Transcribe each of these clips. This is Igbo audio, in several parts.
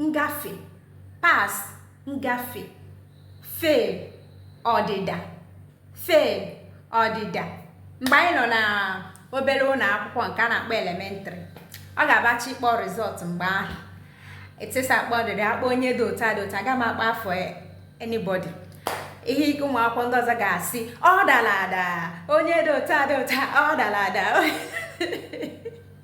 ngafe pass ngafe fail ọdịda fail ọdịda mgbe anyị nọ na obere ụlọ akwụkwọ nke a na-akpọ elementary ọ ga-abachi ịkpọ result mgbe ahụ etisa akpọ ọdịdị akpọ onye dị ụta dị ụta aga m akpọ afa anybody ihe ike ụmụ akwụkwọ ndị ọzọ ga-asị ọ dara ada onye dị ụta dị ụta ọ dara ada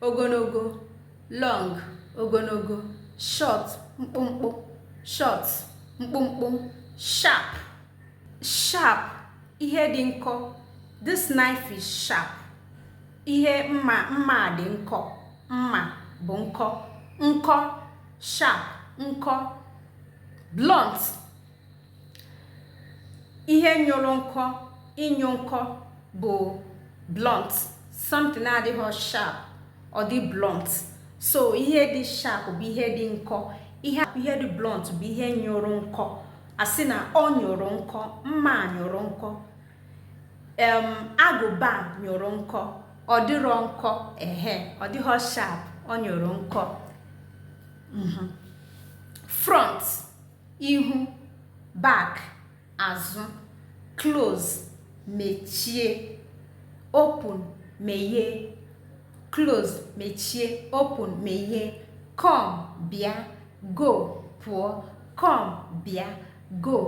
ogologo long ogologo short mkpụmkpụ short mkpụmkpụ sharp sharp ihe dị nkọ this knife is sharp ihe mma mma dị nkọ mma bụ nkọ nkọ sharp nkọ blunt ihe nyụrụ nkọ ịnyụ nkọ bụ blunt something na-adịghị sharp ọ dị blunt so ihe dị sharp bụ ihe dị nkọ ihe ihe dị blunt bụ ihe nyụrụ nkọ a sị na ọ nyụrụ nkọ mma nyụrụ nkọ em agụba nyụrụ nkọ ọ dịrọ nkọ ehe ọ dịghị sharp ọ nyụrụ nkọ mhm. front ihu back azụ close mechie open meghee close mechie open meghee come bịa go pụọ come bịa go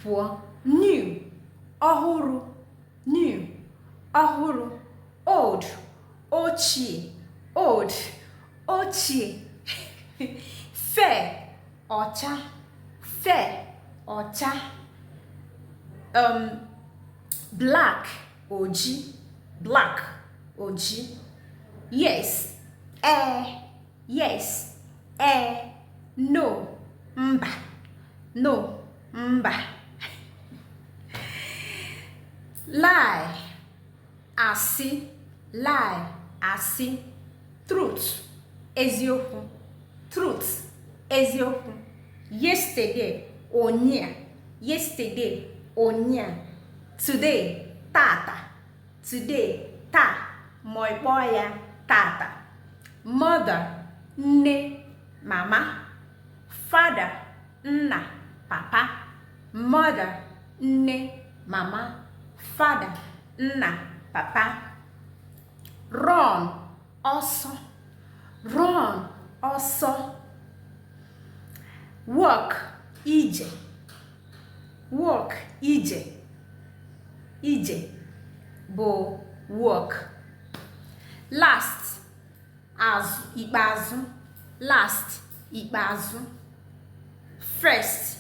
pụọ new ọhụrụ new ọhụrụ old ochie old ochie fair ọcha fair ọcha um, black oji black oji yes ee eh, yes ee eh, no mba no mba lie asị lie asị truth eziokwu truth eziokwu yesterday ụnyaa yesterday ụnyaa today tata today taa ma ị kpọọ ya tata mother nne mama father nna papa mother nne mama father nna papa run ọsọ run ọsọ walk ije walk ije ije bụ walk last azụ ikpeazụ last ikpeazụ first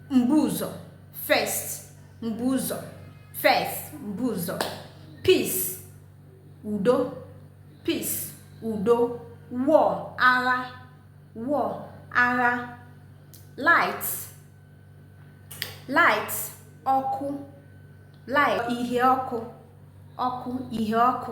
mbu ụzọ first mbu ụzọ first mbu ụzọ peace udo peace udo war agha war agha light light ọkụ light ihe ọkụ ọkụ ihe ọkụ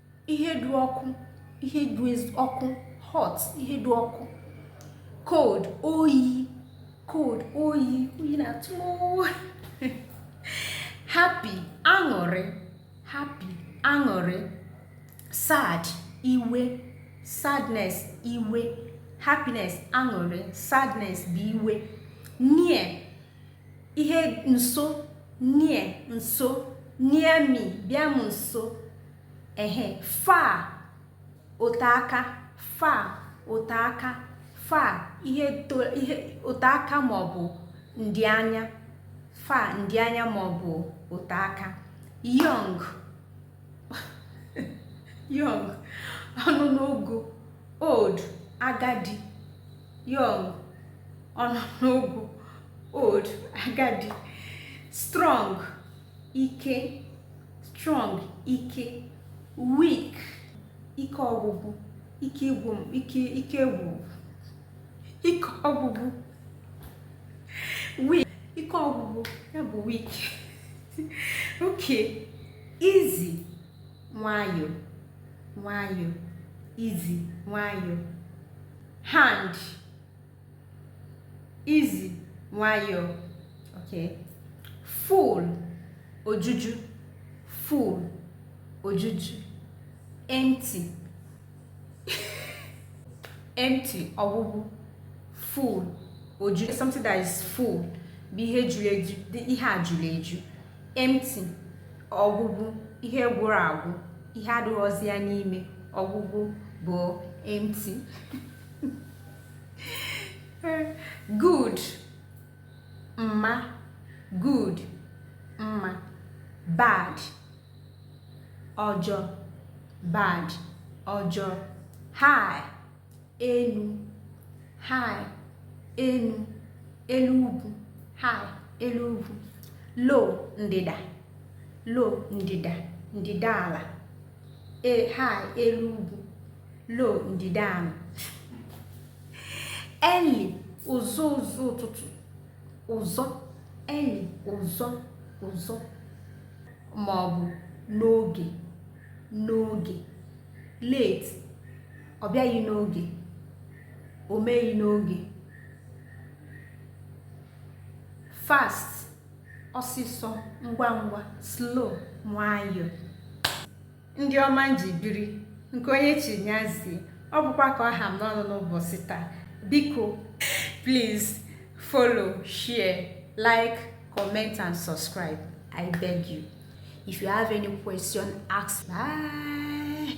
ihe dị ọkụ ihe dị ọkụ hot ihe dị ọkụ cold oyi cold oyi oyi na-atụ happy aṅụrị happy aṅụrị sad iwe sadness iwe happiness aṅụrị sadness bụ iwe near ihe nso near nso near me bịa m nso ehe far ote aka far ote aka far ihe ote aka maọbụ ndị anya far ndị anya maọbụ ote aka young young ọ nọ n'ogo old agadi young ọ nọ n'ogo old agadi strong ike strong ike weak ike ọgwụgwụ ike ịgwụ ike ike ịgwụ ike ọgwụgwụ weak ike ọgwụgwụ ya bụ weak okay easy nwayọọ nwayọọ easy nwayọọ hard easy nwayọọ okay full ojuju full ojuju empty empty ọgwụgwụ full ojuju something that is full bụ ihe juru eju ihe a juru eju empty ọgwụgwụ ihe gwụrụ agwụ ihe adịghịzi ya n'ime ọgwụgwụ bụ empty good mma good mma bad ọjọ bad ọjọ high elu high elu elu ugwu high elu ugwu low ndịda low ndịda ndịda ala e, high elu ugwu low ndịda ala early ụzọ ụzọ ụtụtụ ụzọ early ụzọ ụzọ ma ọ bụ n'oge n'oge late ọ bịaghị n'oge o meghị n'oge fast ọsịsọ ngwa ngwa slow nwayọọ ndị ọma m ji biri nke onye chi nya zie ọ bụkwa ka ọ ha m n'ọnụ n'ụbọchị taa biko please follow share like comment and subscribe i beg you if you have any question ask bye